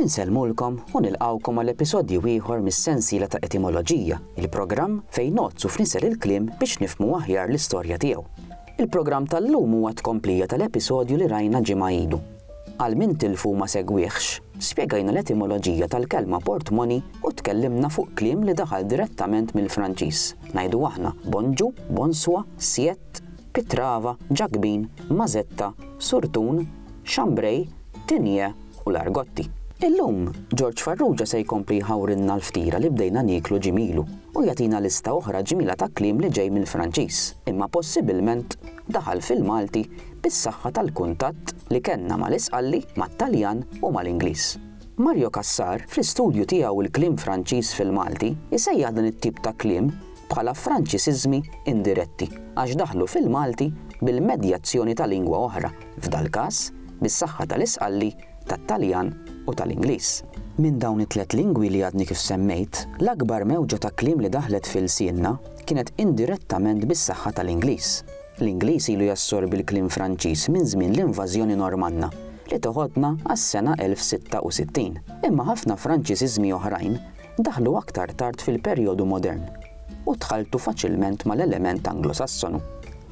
Insellmulkom u nilqgħukom għal episodju ieħor mis-sensiela ta' Etimoloġija, il-programm fejn ngħodd u fnisser il-kliem biex nifhmu aħjar l-istorja tiegħu. Il-programm tal-lum huwa tkomplija tal-episodju li rajna ġimgħa ilu. Għal min tilfu u ma segwihx, spjegajna l-etimoloġija tal-kelma portmoney u tkellimna fuq kliem li daħal direttament mill-Franċiż, ngħidu aħna, bonjour, bonsoir, siete, Pitrava, Ġakbin, Mażetta, Surtun, Xambrej, Tinje u l-Argotti. Illum, Ġorġ Farrugia se jkompli jħawrilna l-ftira li bdejna nieklu ġimielu u jagħtina lista oħra ġmiela ta' kliem li ġej mill-Franċiż imma possibilment daħal fil-Malti bis-saħħa tal-kuntatt li kellna mal-Isqalli, mat-Taljan u mal-Ingliż. Mario Cassar, fl-istudju tiegħu Il-Kliem Franċiż fil-Malti, isejjaħ dan it-tip ta' kliem bħala Franċisiżmi indiretti għax daħlu fil-Malti bil-medjazzjoni ta' lingwa oħra, f'dal-każ, bis-saħħa tal-isqalli, tat-Taljan u tal-Ingliż. Minn dawn it-tliet lingwi li għadni kif semmejt, l-akbar mewġa ta' kliem li daħlet fi lsienna kienet indirettament bis-saħħa tal-Ingliż. L-Ingliż ilu jassorbi l-kliem Franċiż minn żmien l-invażjoni Normanna, li teħodna għas-sena 1066. Imma ħafna Franċisiżmi oħrajn daħlu aktar tard fil-perjodu modern u dħaltu faċilment mal-element Anglosassonu.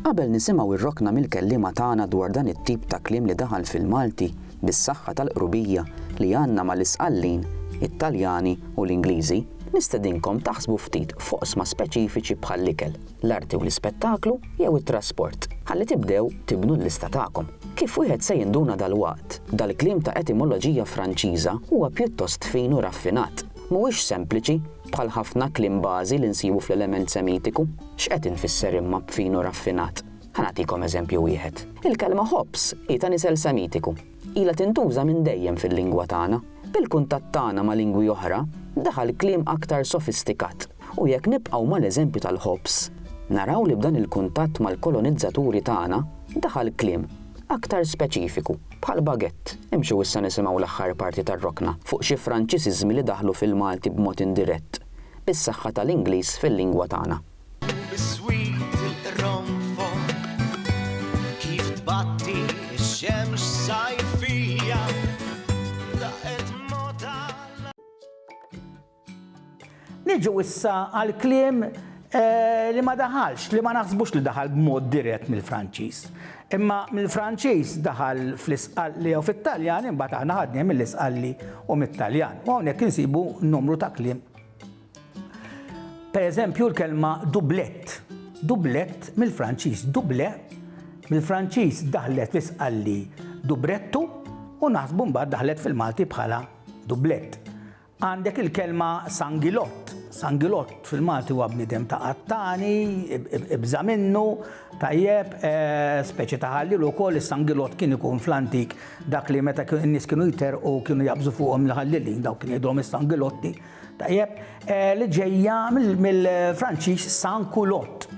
Qabel nisimgħu r-rokna mill-kelliema tagħna dwar dan it-tip ta' kliem li daħal fil-Malti bis-saħħa tal-qrubija li għandna mal-Isqallin, it-Taljani u l-Ingliżi, nistedinkom taħsbu ftit f'oqsma speċifiċi bħall-ikel. l-arti u l-ispettaklu jew it-trasport. Ħalli tibdew tibnu l-lista tagħkom. Kif wieħed se jinduna dalwaqt, dal-kliem ta' etimoloġija Franċiża huwa pjuttost fin u raffinat. Mhuwiex sempliċi, bħal ħafna kliem bażi li nsibu fl-element Semitiku. X'qed infisser imma b'fin u raffinat? Ħa nagħtikom eżempju wieħed. Il-kelma ħobż hi ta' nisel Semitiku. Ilha tintuża minn dejjem fil-lingwa tagħna. Bil-kuntatt tagħna ma' lingwi oħra, daħal kliem aktar sofistikat, u jekk nibqgħu mal-eżempju tal-ħobż, naraw li b'dan il-kuntatt mal-kolonizzaturi tagħna, daħal kliem aktar speċifiku, bħal baguette. Imxu issa nisimgħu l-aħħar parti tar-rokna fuq xi Franċisiżmi li daħlu fil-Malti b'mod indirett, bis-saħħa tal-Ingliż fil-lingwa tagħna. Niġu issa għal kliem eh, li ma daħalx, li ma naħsbux li daħal b'mod dirett mill-Franċiż. Imma mill-Franċiż daħal fl-isqalli u fit-Taljan, imbagħad aħna ħadni mill-isqalli u mit-Taljan. U hawnhekk insibu numru ta' kliem Per eżempju l-kelma dublett. Dublett mill-Franċiż duble mill-Franċiż daħlet fl-isqalli dubrettu u naħsbu mbagħad daħlet fil-Malti bħala dublett. Għandek il-kelma sangilott. Sangilott fil-Malti huwa bniedem ta' qattani, ibża minnu, tajjeb, e, speċi ta' ħallil ukoll is-sangilott kien ikun fl-antik dak li meta n-nies kienu jter u kienu jabżu fuqhom l-ħallilin dawk kien jgħidhom is-sangilotti. Tajjeb, li ġejja mill-Franċiż san kulott.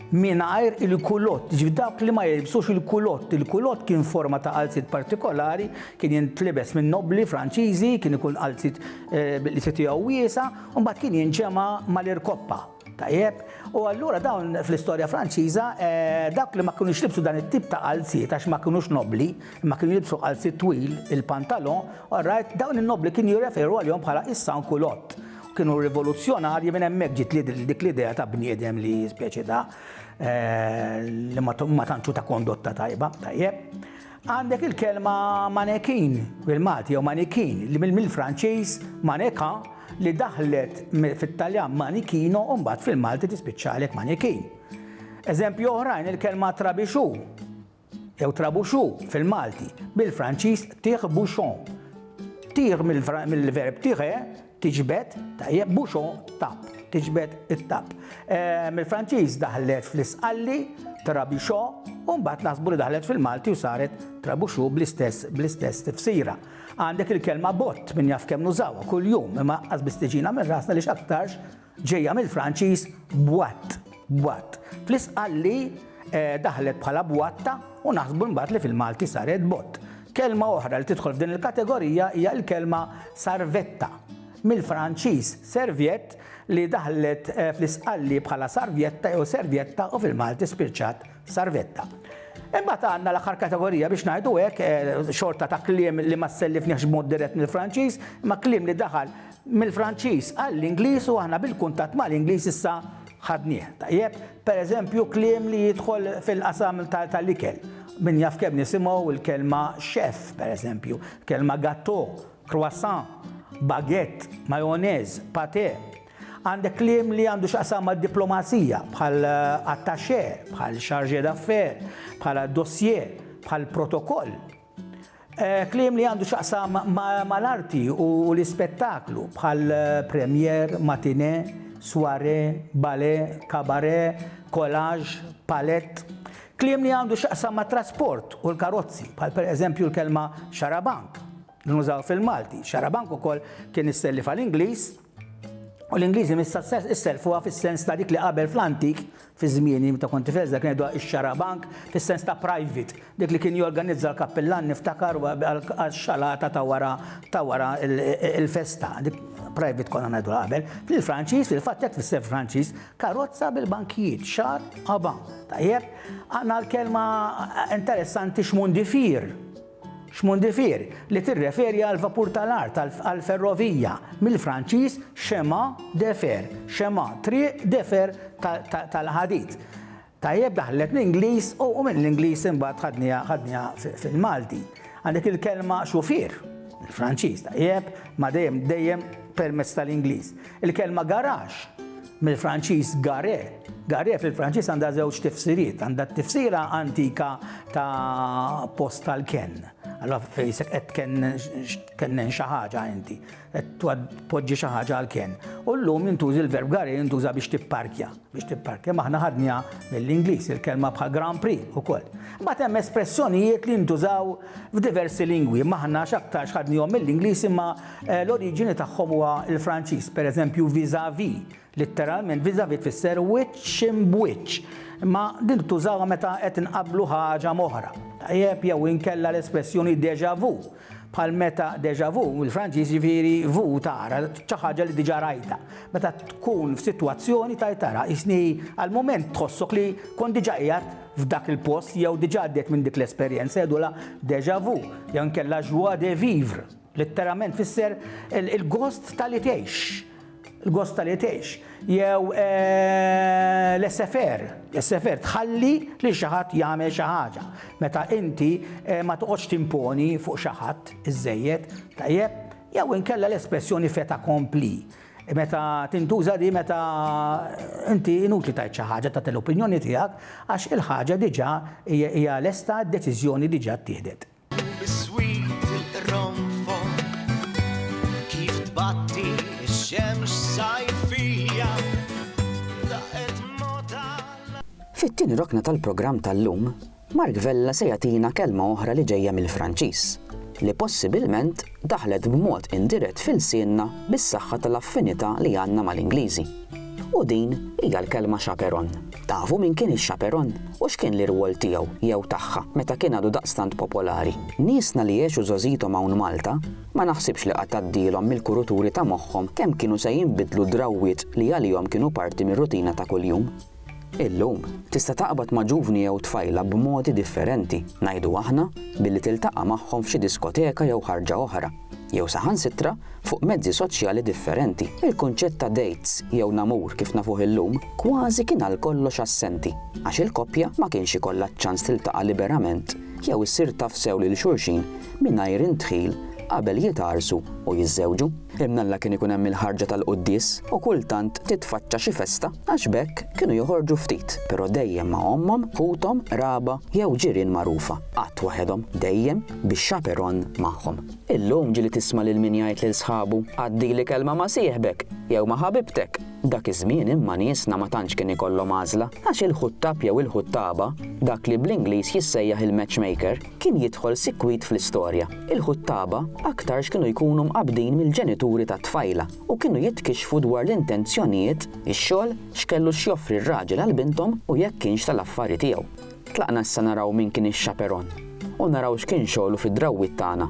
Mingħajr il-kulott, ġifi dak li ma jilbsux il-kulott. Il-kulott kien forma ta' qalzit partikolari, kien jintlibes minn nobli Franċiżi, kien ikun qalzit li se tiegħu wiesa, u mbagħad kien jinġema' mal-irkoppa. Tajjeb, u allura dawn fl-istorja Franċiża dawk li ma kinux libsu dan it-tip ta' qalziet għax ma kinux nobbli, imma kienu jilbsu qalziet twil, il-pantalon, orajt, dawn in-nobbli kienu jirreferu għalihom bħala is-sans culottes. Kienu rivoluzzjonarji minn hemmhekk ġiet dik l-idea ta' bniedem li speċi ta' li ma tantxu ta' kondotta tajba, tajjeb. Għandek il-kelma manekin bil-Malti jew manikin li mill-Franċiż manequin li daħlet fit-Taljan manichino u mbagħad fil-Malti tispiċċalek manekin. Eżempji oħrajn il-kelma trabixu jew trabuxu fil-Malti bil-Franċiż tire bouchon. Tire mill-verb tire Tiġbed, tajjeb, bouchon, tapp, tiġbed it-tapp. Mill-Franċiż daħlet fl-isqalli, trabichò, u mbagħad naħsbu li daħlet fil-Malti u saret trabuxu bl-istess bl-istess tifsira. Għandek il-kelma bott minn jaf kemm nużawha kuljum, imma qas biss tiġina minn rasna li x'aktarx ġejja mill-Franċiż boîte, bwatt, fl-Isqalli daħlet bħala bwatta u naħsbu mbagħad li fil-Malti saret bott. Kelma oħra li tidħol f'din il-kategorija hija l-kelma sarvetta, mill-Franċiż serviette li daħlet fl-Isqalli bħala sarvjetta jew servjetta u fil-Malti spiċċat sarvetta. Imbagħad għandna l-aħħar kategorija biex ngħidu hekk, xorta ta' kliem li ma sellifniehx b'mod dirett mill-Franċiż, imma kliem li daħal mill-Franċiż għall-Ingliż u aħna bil-kuntatt mal-Ingliż issa ħadnih tajjeb. Per eżempju kliem li jidħol fil-qasam tal-ikel. Min jaf kemm nisimgħu l-kelma chef, per eżempju, kelma gateau, croissant, baguette, mayonnaise, pâté. Għandek kliem li għandu x'jaqsam mad-diplomazija bħal attaché, bħal chargé d'affaires, bħala dossier, bħal protokoll. Kliem li għandu xaqsam mal-arti u l-ispettaklu bħal premier, matine, soirée, ballet, cabaret, collage, palett. Kliem li għandu xaqsam mat-trasport u l-karozzi bħal per eżempju l-kelma xarabank li nużaw fil-Malti. Xarabank ukoll kien issellif għal Ingliż U l-Ingliżi missa isselfuha fis-sens ta' dik li qabel fl-antik, fi żmieni meta kont tifel dak ngħidu ix-xarabank fis-sens ta' private, dik li kien jorganizza l-kappillan niftakar għax-xalata ta' wara ta' wara il-festa, dik private konna ngħidu qabel. Fil-Franċiż, fil-fatt hekk tfisser Franċiż, karozza bil-bankijiet, xar qaban. Tajjeb, għandna l-kelma interessanti xmundifir. Xmondifier, li tirreferi għall-vapur tal-art għall-ferrovija, mill-Franċiż chemin de fer, chemin, triq, de fer, tal-ħadid. Tajjeb daħlet l-Ingliż u mill-Ingliż imbagħad ħadniha ħadniha fil-Malti. Għandek il-kelma xufier, il-Franċiż, tajjeb, ma dejjem dejjem permezz tal-Ingliż. Il-kelma garax, mill-Franċiż gare, gare fil-Franċiż għandha żewġ tifsiriet, għandha t-tifsira antika ta' post tal-kenn. Allora fejsek qed kennen xi ħaġa inti, qed tpoġġi xi ħaġa għall-kenn. U llum jintużi l-verb gare jintuża biex tipparkja, biex tipparkja maħna ħadnija mill-Ingliż il-kelma bħal Grand Prix ukoll. Ma hemm espressjonijiet li jintużaw f'diversi lingwi, maħna x'aktarx ħadnihom mill-Ingliż imma L-oriġini tagħhom huwa l-Franċiż, pereżempju vis-à-vis, litteralment vis-à-vis tfisser wiċċ imb'wiċċ, imma din tużawha meta qed inqabblu ħaġa m'oħra, tajjeb, jew inkella l-espressjoni déjà vu, bħal meta déjà vu, mill-Franċiż, jiġifieri vu tara, xi ħaġa li diġà rajtha. Meta tkun f'sitwazzjoni tgħid tara, qisni għall-mument tħossok li kont diġà qiegħed f'dak il-post jew diġà għaddejt minn dik l-esperjenza, jgħidulha déjà vu, jew inkella joie de vivre. Litteralment tfisser il-gost ta' li tgħix, il-gost ta' li tgħix, jew eh, l-essefer, l-essefer tħalli li xi ħadd jagħmel xi ħaġa. Meta inti eh, ma toqgħodx timponi fuq xi ħadd iżejjed, tajjeb, jew inkella l-espressjoni feta kompli meta tintuża di meta inti inutli tajt xi ħaġa ta' l-opinjoni tiegħek għax il-ħaġa diġà hija lesta d-deċiżjoni diġà ttieħdet. Fit-tieni rokna tal-programm tal-lum, Mark Vella se jagħtina kelma oħra li ġejja mill-Franċiż, li possibilment daħlet b'mod indirett f'ilsienna bis-saħħa tal-affinità li għandna mal-Ingliżi. U din hija l-kelma chaperon. Tafu min kien ix-chaperon? U x'kien l-irwol tiegħu, jew tagħha, meta kien għadu daqstant popolari? Niesna li għexu żgħożiethom hawn Malta, ma naħsibx li qatt għaddielhom mill-kuruturi ta' moħħhom kemm kienu se jinbidlu d-drawwiet li għalihom kienu parti mir-rutina ta' kuljum. Illum, tista' taqbad ma' ġuvni jew tfajla b'modi differenti, ngħidu aħna, billi tiltaqa' magħhom f'xi diskoteka jew ħarġa oħra, jew saħansitra fuq mezzi soċjali differenti. Il-kunċett ta' dates jew namur kif nafuh illum kważi kien għalkollox assenti, għax il-koppja ma kienx ikollha ċ-ċans tiltaqa' liberament jew issir taf sew lil xulxin mingħajr indħil qabel jitgħarrsu u jiżżewġu. Imnalla kien ikun hemm il-ħarġa tal-quddies u kultant titfaċċa xi festa għax b'hekk kienu joħorġu ftit, però dejjem ma' ommhom, ħuthom, qraba jew ġirien magħrufa. Qatt waħedhom, dejjem bi chaperon magħhom. Illum ġieli tisma' lil min jgħid lil sħabu, Għaddili kelma ma' sieħbek jew ma' ħabibtek! Dak iż-żmien imma niesna ma tantx kien ikollhom għażla għax il-ħuttab jew il-ħuttaba, dak li bl-Ingliż jissejjaħ il-matchmaker, kien jidħol sikwit fl-istorja. Il-ħuttaba aktarx kienu jkunu mqabbdin mill-ġenituri tat-tfajla u kienu jitkixxfu dwar l-intenzjonijiet, ix-xogħol, x'kellu x'joffri r-raġel għal binthom u jekk kienx tal-affari tiegħu. Tlaqna issa naraw min kien ix-xaperon u naraw x'kien xogħlu fid-drawwiet tagħna.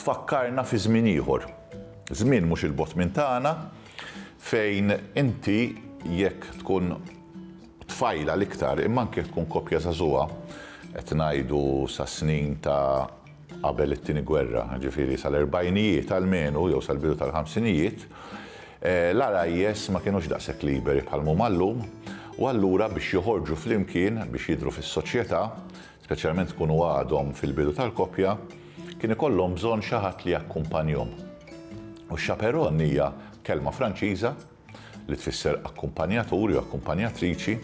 Tfakkarna fi żmien ieħor, żmien mhux 'il bogħod minn tagħna, fejn inti jekk tkun tfajla l-iktar, imma anke jekk tkun koppja żagħżugħa, qed ngħidu sas-snin ta' qabel it-Tieni Gwerra, jiġifieri sal-erbgħinijiet almenu jew sal-bidu tal-ħamsinijiet, l-għarajjes ma kinux daqshekk liberi bħalma huma llum, u allura biex joħorġu flimkien, biex jidhru fis-soċjetà, speċjalment ikunu għadhom fil-bidu tal-koppja, kien ikollhom bżonn xi ħadd li jakkumpanjhom. U chaperon hija kelma Franċiża li tfisser akkumpanjatur jew akkumpanjatriċi,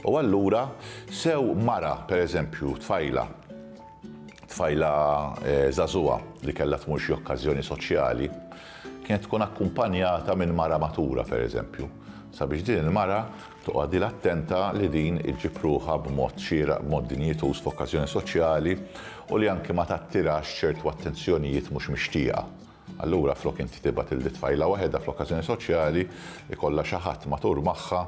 u allura sew mara, pereżempju, tfajla tfajla żagħżugħa eh, li kellha tmur xi okkażjoni soċjali, kienet tkun akkumpanjata minn mara matura, pereżempju, sabiex din il-mara Toqgħodilha attenta li din iġġib ruħha b'mod xieraq, b'mod dinjituż f'okkażjoni soċjali u li anki ma tattirax ċertu attenzjonijiet mhux mixtieqa. Allura flok inti tibgħat lil t-tfajla waħedha fl-okkażjoni soċjali, ikollha xi ħadd matur magħha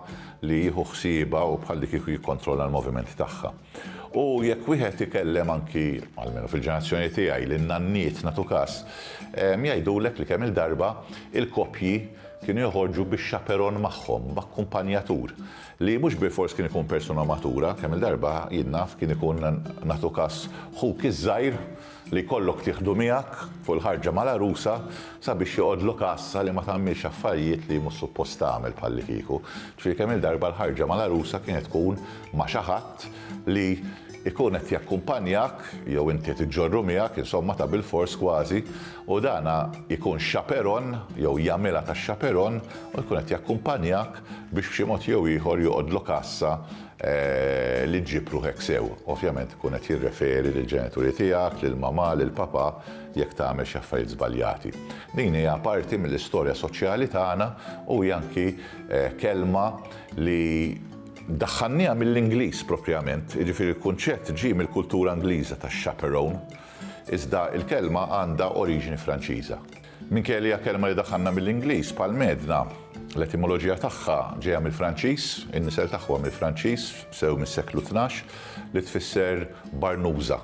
li jieħu ħsiebha u bħallikieku jikkontrolla l-movimenti tagħha. U jekk wieħed ikellem anki, almenu fil-ġenerazzjoni tiegħi, lin-nanniet nagħtu każ, jgħidulek li kemm-il darba il-koppji kienu joħorġu bi xaperon magħhom, b'akkumpanjatur, li mhux bilfors kien ikun persuna matura, kemm-il darba, jien naf, kien ikun nagħtu każ ħuk iż-żgħir, li jkollok tieħdu miegħek fuq il-ħarġa mal-għarusa sabiex joqgħodlu kassa li ma tagħmilx affarijiet li hi mhux suppost tagħmel bħallikieku. Ġifieri kemm-il darba l-ħarġa mal-għarusa kienet tkun ma' xi ħadd li jkun qed jakkumpanjak jew inti qed iġġorru miegħek, insomma ta' bilfors kważi, u dan jkun xaperon jew jagħmilha ta' xaperon u jkun qed jakkumpanjak biex b'xi mod jew ieħor joqgħodlu kassa li ġġib ruħek sew. Ovvjament ikun qed jirreferi lill-ġenituri tiegħek, lill-mamà, lill-papà, jekk tagħmel xi affarijiet żbaljati. Din hija parti mill-istorja soċjali tagħna u hija anki kelma li daħħalniha mill-Ingliż propjament, jiġifieri l-kunċett ġie mill-kultura Ingliża tax-chaperone, iżda l-kelma għandha oriġini Franċiża. Minkejja li hija kelma li daħħalna mill-Ingliż, Palmedna, l-etimoloġija tagħha ġejja mill-Franċiż, in-nisel tagħha huwa mill-Franċiż, sew mis-seklu tnax, li tfisser barnuża,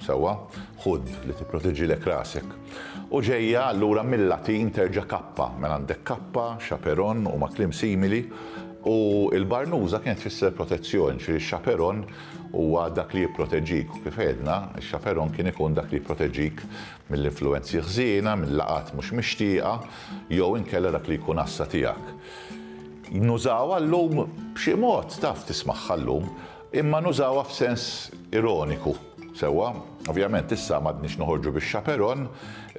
sewwa, ħud li tipproteġilek rasek, u ġejja allura mil-Latin terġa' kappa, mela għandek kappa, chaperon huma kliem simili, u l-barnuża kienet tfisser protezzjoni, jiġifieri x-chaperon huwa dak li jipproteġik, u kif għedna, ix-chaperon kien ikun dak li jipproteġik mill-influwenzi ħżiena, minn laqgħat mhux mixtieqa, jew inkella dak li jkun għassa tiegħek. Nużawha llum b'xi mod, taf, tismagħha llum, imma nużawha f'sens ironiku, sewwa? Ovvjament issa m'għadniex noħorġu bix-chaperon,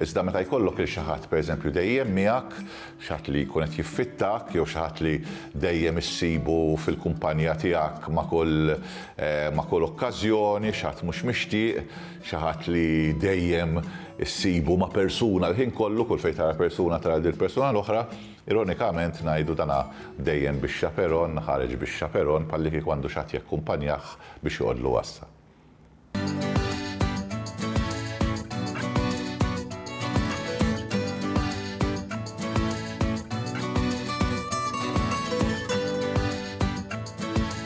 iżda meta jkollok lil xi ħadd pereżempju dejjem miegħek, xi ħadd li jkun qed jiffittak jew xi ħadd li dejjem issibu fil-kumpanja tiegħek ma' kull ma' kull okkażjoni, xi ħadd mhux mixtieq, Xi ħadd li dejjem issibu ma' persuna l-ħin kollu, kull fejn tara persuna tara lil persuna l-oħra. Ironikament ngħidu dan dejjem bix-xaperon, ħareġ bix-xaperon, bħallikieku għandu xi ħadd jakkumpanjah biex joqgħodlu għassa.